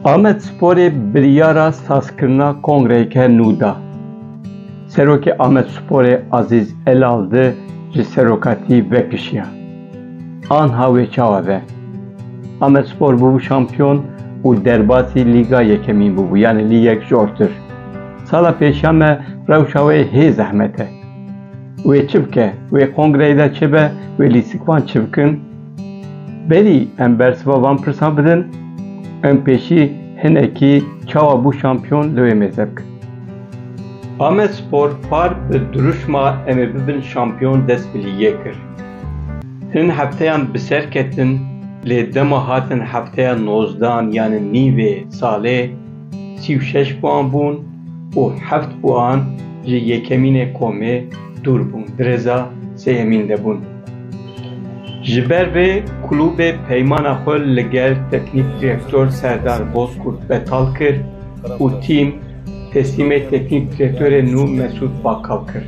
Amedsporê biryara sazkirina kongreyeke nû da. Serokê Amedsporê Azîz Elaldi ji serokatî vekişiya. Anha wê çawa be? Amedspor bûbû şampiyon û derbasî lîga yekemîn bûbû yanî li yek ji ortir. Sala pêşiya me rewşa wê hê zehmet e. Wê çi bike? Wê kongreyê de çi be? Wê lîstikvan çi bikin? Berî em bersiva van pirsan bidin, em pêşî hinekî çawa bû şampiyon li wê mêze bikin. Amedspor par bi dirûşma em ê bibin şampiyon dest bi lîgê kir. Hin hefteyan bi ser ketin lê dema hatin hefteya nozdan yanî nîvê salê, Sî û şeş buan bûn û heft buan ji yekemînê komê dûr bûn, di rêza sêyemîn de bûn. Ji ber vê kulûbê peymana xwe li gel teknîk direktor Serdar Bozkurt betal kir û tîm teslîmê teknîk direktorê nû Mesûd Bakal kir.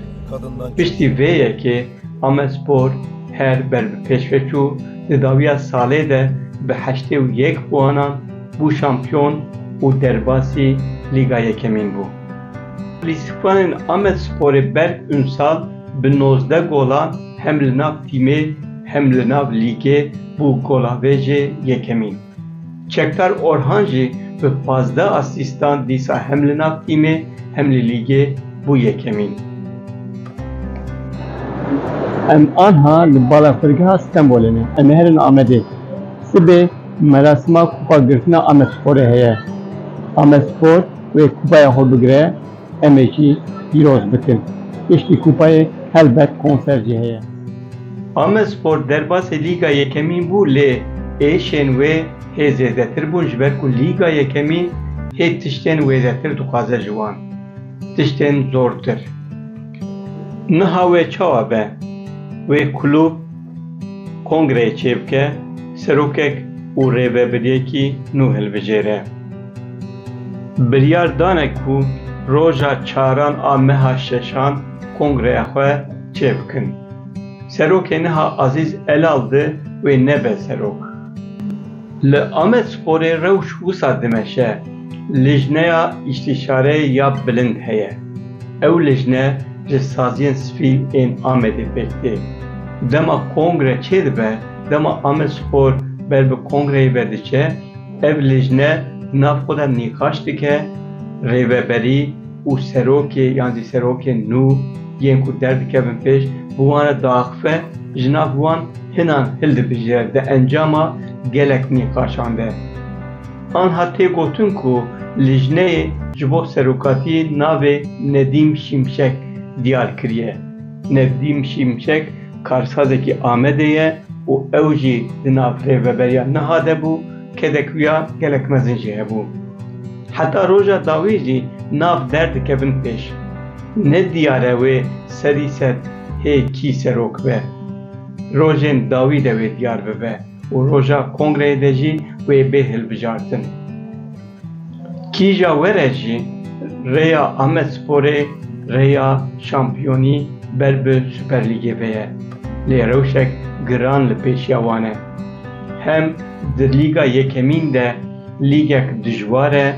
Piştî vê yekê Amedspor her ber bi pêş ve çû, di dawiya salê de bi heştê û yek buanan bû şampiyon û derbasî Lîga Yekemîn bû. Lîstikvanên Amedsporê Berk Unsal bi nozdeh golan hem li nav tîmê hem li nav lîgê bû golavêjê yekemîn. Çekdar Orhan jî bi pazdeh asîstan dîsa hem li nav tîmê hem li lîgê bû yekemîn. Em anha li balafirgeha Stenbolê ne, em ê herin Amedê. Sibê. Merasima kupa girtina Amedsporê heye. Amedspor wê kupaya xwe bigire em ê jî pîroz bikin. Piştî kupayê helbet konser jî heye. Amedspor derbasê Lîga Yekemîn bû lê êşên wê hê zêdetir bûn ji ber ku Lîga Yekemîn hê tiştên wêdetir dixwaze ji wan. Tiştên zortir. Niha wê çawa be? Wê kulûb. Kongreyê çêbike, serokek û rêvebiriyekî nû hilbijêre. Biryar dane ku roja çaran a meha şeşan kongreya xwe çêbikin. Serokê niha Azîz Elal di wê nebe serok. Li Amedsporê rewş wisa dimeşe, Lijneya Îstîşare ya Bilind heye. Ew lijne ji saziyên spî ên Amedê pêk tê. Dema kongre çêdibe, dema Amedspor ber bi kongreyê ve diçe, ev lijne di nav xwe de nîqaş dike, rêveberî û serokê yan jî serokên nû yên ku derdikevin pêş, bi wan re diaxive, ji nav wan, Hinan hildibije di encama gelek nîqaşan de. Anha tê gotin ku lijneyê ji bo serokatiyê navê Nedîm Şimşek diyar kiriye. Nedîm Şimşek karsazekî Amedê ye û ew jî di nav rêveberiya niha de bû, kedek wiya gelek mezin jî hebû. Heta roja dawî jî nav derdikevin pêş. Ne diyar e wê serî ser hê kî serok be. Rojên dawî de wê diyar bibe û roja kongreyê de jî wê bê hilbijartin. Kîja we re jî rêya Amedsporê rêya şampiyonî ber bi Superlîgê ve ye. Lê rewşek giran li pêşiya wan e. Hem di Lîga Yekemîn de lîgek dijwar e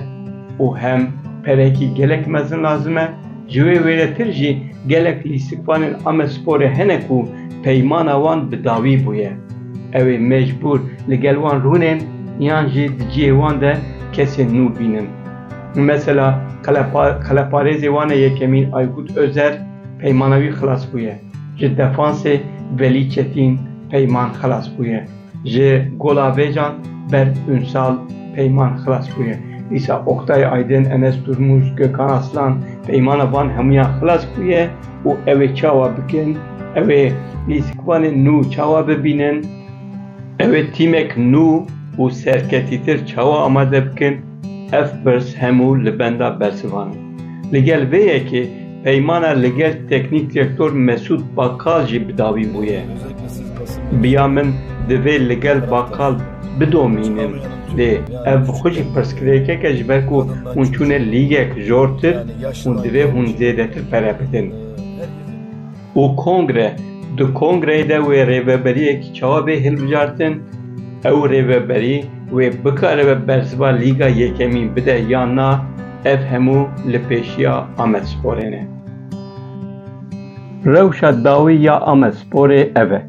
û hem perekî gelek mezin lazim e. Ji wê wêretir jî gelek lîstikvanên Amedsporê hene ku peymana wan bi dawî bûye. Ew ê mecbûr li gel wan rûnên yan jî di cihê wan de kesên nû bînin. Mesela qeleparêzê wan e yekemîn Aykut Özer peymana wî xilas bûye. Ji defansê Velî Çetîn peyman xilas bûye. Ji Gola Vêcan Berk Ünsal peyman xilas bûye. Dîsa Oktay Aydin, Enes Durmuş, Gökhan Aslan peymana van hemûyan xilas bûye û ew ê çawa bikin? Ew ê lîstikvanên nû çawa bibînin? Ew ê tîmek nû û serketîtir çawa amade bikin? Ev pirs hemû li benda bersivan in. Li gel vê yekê peymana li gel teknîk direktor Mesûd Bakal jî bi dawî bûye. Bi ya min divê li gel Bakal bidomînin lê ev bi xwe jî pirsgirêkek e ji ber ku hûn çûne lîgek jortir û divê hûn zêdetir pere bidin. û kongre, di kongreyê de wê rêveberiyek çawa bê hilbijartin, ew rêveberî wê bikaribe bersiva Lîga Yekemîn bide yan na, ev hemû li pêşiya Amedsporê ne. Rewşa dawî ya Amedsporê ev e,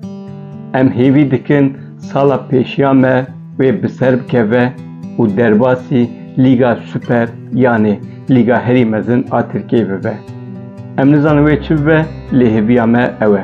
em hêvî dikin sala pêşiya me, wê bi ser bikeve û derbasî Lîga Super yanê Lîga Herî Mezin a Tirkiyeyê bibe. Em nizanin wê çi bibe lê hêviya me ew e.